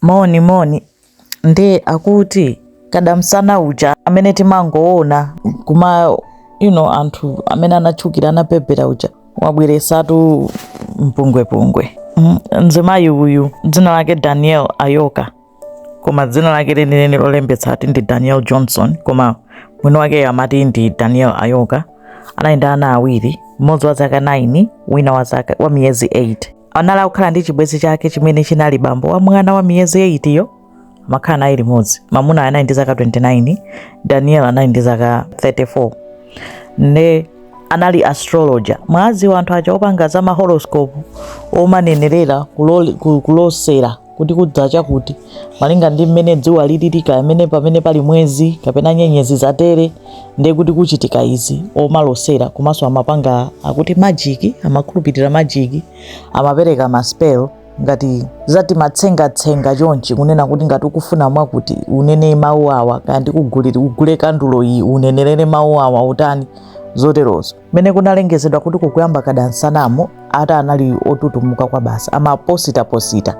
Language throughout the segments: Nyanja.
Moni moni nde akuti kadamsana uja amene timangoona kuma you know anthu amene anatchukira anapepera uja wabweretsatu mpungwepungwe mm, mzimayi uyu dzina lake daniel ayoka koma dzina lake lenileni lolembetsa ati ndi daniel johnson koma mwini wake amati ndi daniel ayoka anali ndi ana awiri mmodzi wa zaka 9 wina wa, zaka, wa miyezi 8 anali akukhala ndi chibwenzi chake chimene chinali bambo wa mwana wa miyezi 8 yo amakhala naye limodzi mamuna anali ndi zaka 29 daniel anali ndi zaka 34 ne anali astrologer mwadziwa anthu aja opanga za mahoroscope omanenerera kulosera kuti kudzachakuti malinga ndi mmene dzuwa lilili kapena pamene pali mwezi kapena nyenyezi zatere ndiye kuti kuchitika izi omalosera komanso amapanga akuti majiki amakhulupirira majiki amapereka maspell ngati zati matsengatsenga chonchi kunena kuti ngati ukufuna mwakuti unene mawu awa kaya ugule kandulo iyi unenerere mawu awa utani zoterozo mmene kunalengezedwa kuti kukuyamba kadamsanamu ati anali otutumuka kwabasi amapositaposita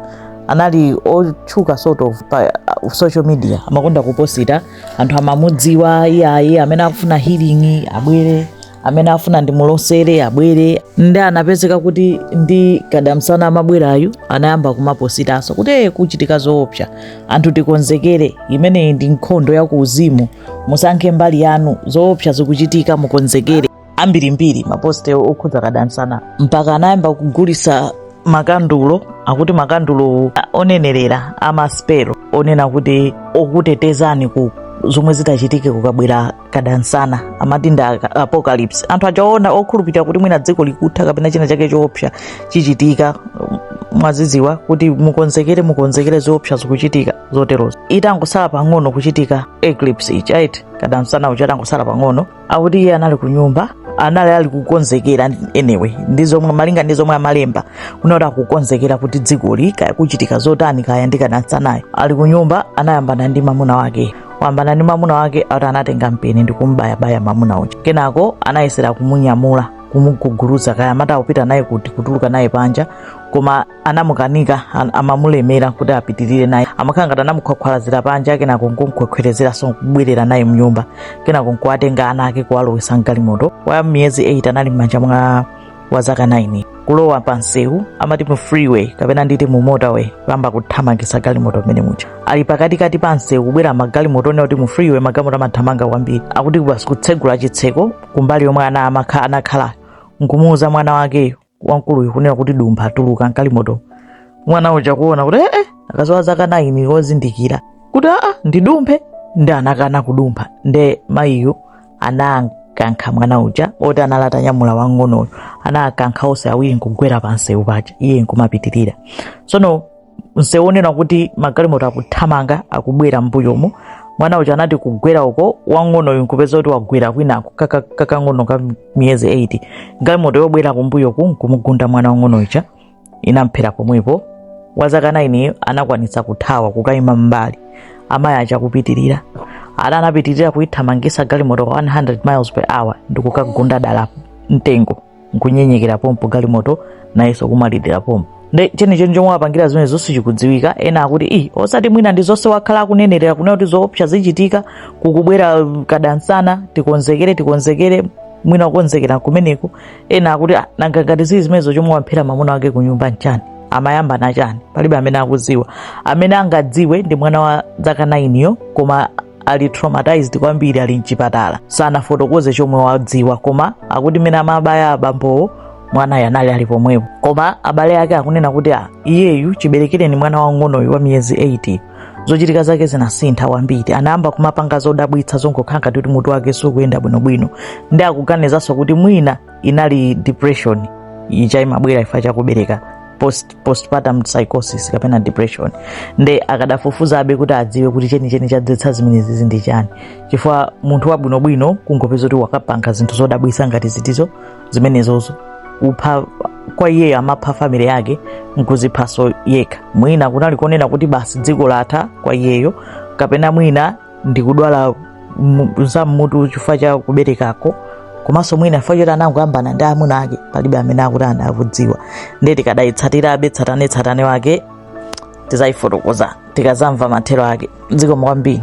anali otchuka sort of pa uh, social media amakonda kuposita anthu amamudziwa iyayi amene akufuna healing abwere amene afuna ndimulosere abwere nde anapezeka kuti ndi kadamsana amabwerayu anayamba kumapositanso kuti "Eh, kuchitika zoopsa anthu tikonzekere imeneyi ndi nkhondo ya kuuzimu musankhe mbali yanu zoopsa zikuchitika mukonzekere ambirimbiri maposte okhudza kadamsana mpaka anayamba kugulitsa makandulo akuti makandulo onenerera a maspelo onena kuti okutetezani ku zomwe zitachitike kukabwera kadamsana amati ndi aka- apocalypse anthu aja okhulupirira kuti mwina dziko likutha kapena china chake choopsa chichitika um, mwazidziwa kuti mukonzekere mukonzekere zoopsa zikuchitika zoterozo itangosala pang'ono kuchitika eclipse ichi right kadamsana uja atangosala pang'ono akuti iye anali ku nyumba anali ali kukonzekera anyway ndi zomwe malinga ndi zomwe amalemba kunena kuti akukonzekera kuti dzikoli kaya kuchitika zotani kaya ndi kadamsanayo ali ku nyumba anayambana ndi mamuna wake wayambana ndi mamuna wake ati anatenga mpeni ndi kumbayabaya mamuna uja kenako anayesera kumunyamula kumuguguluza kaya amati akupita naye kuti kutuluka naye panja koma anamukanika an- amamulemera kuti apitirire naye amakhala ngati anamukhwakhwalazira panja kenako nkumkhwekhwerezeranso nkubwerera naye mnyumba kenako nkuwatenga ana ake kuwalowesa mgalimoto wa miyezi 8 anali m'manja mwa wa zaka 9 kulowa pa msewu amati mu freeway kapena nditi mu motorway kuyamba kuthamangitsa galimoto mmene muja ali pakatikati pa msewu kubwera magalimoto onena kuti mu freeway magalimoto amathamanga kwambiri akuti basi kutsegula chitseko kumbali yomwe ana amakha- anakhala nkumuuza mwana wake wamkuluyu kunena kuti dumpha tuluka mgalimoto mwana uja kuona kuti ee akanali wa zaka 9 wozindikira kuti aa ndidumphe nde anakana kudumpha nde mayiyo anakankha mwana uja oti anali atanyamula wang'onoyo anakankha onse awiri nkugwera pa msewu paja iye nkumapitirira tsono msewu onena kuti magalimoto akuthamanga akubwera mbuyomo mwana uja anati kugwera uko wang'onoyo nkupeza kuti wagwera kwinako kaka- kakang'ono ka miyezi 8 galimoto yobwera kumbuyoku nkumugunda mwana wang'ono uja inamphera pomwepo wa zaka 9 anakwanitsa kuthawa kukayima m'mbali amayi aja kupitirira ana anapitirira kuyithamangisa galimoto 100 miles per hour ndi kukagunda dala mtengo nkunyenyeka pompo galimoto nayenso kumwalira pompo nde chenicheni chomwe wapangira zimenezo sichikudziwika ena akuti i osati mwina ndi zonse wakhala akunenerera kunena kuti zoopsa zichitika kukubwera kadansana tikonzekere tikonzekere mwina kukonzekera kumeneko ena akuti "Ah, nanga ngati zili zimenezo chomwe wamphera mwamuna wake ku nyumba nchani amayambana chani palibe amene akudziwa amene angadziwe ndi mwana wa zaka 9 yo koma ali traumatized kwambiri ali mchipatala sanafotokoze chomwe wadziwa koma akuti mmene amabaya abambowo mwanayo anali ali pomwepo koma abale ake akunena kuti "Ah, iyeyu chiberekereni mwana wang'onoyu wa miyezi 8 zochitika zake zinasintha kwambiri anayamba kumapanga zodabwitsa zongokhala ngati kuti mutu wake sukuyenda bwinobwino nde akuganizanso kuti mwina inali depression ija imabwera chifukwa cha kubereka post, postpartum psychosis kapena depression nde akadafufuzabe kuti adziwe kuti chenicheni chadzetsa zimenezizi ndi chani chifukwa munthu wabwinobwino kungopeza kuti wakapanga zinthu zodabwitsa ngati zithu zo zimenezozo kupha kwa iyeyo amapha family yake nkuziphaso yekha mwina kunali kunena kuti basi dziko latha kwa iyeyo kapena mwina ndikudwala mu- za mmutu chifukwa cha kuberekako komanso mwina chifukwa choti anangoyambana ndi amuna ake palibe amene akuti ana akudziwa ndiye tikadayitsatirabe tsatanetsatane wake tizayifotokoza tikazamva mathero ake zikomo kwambiri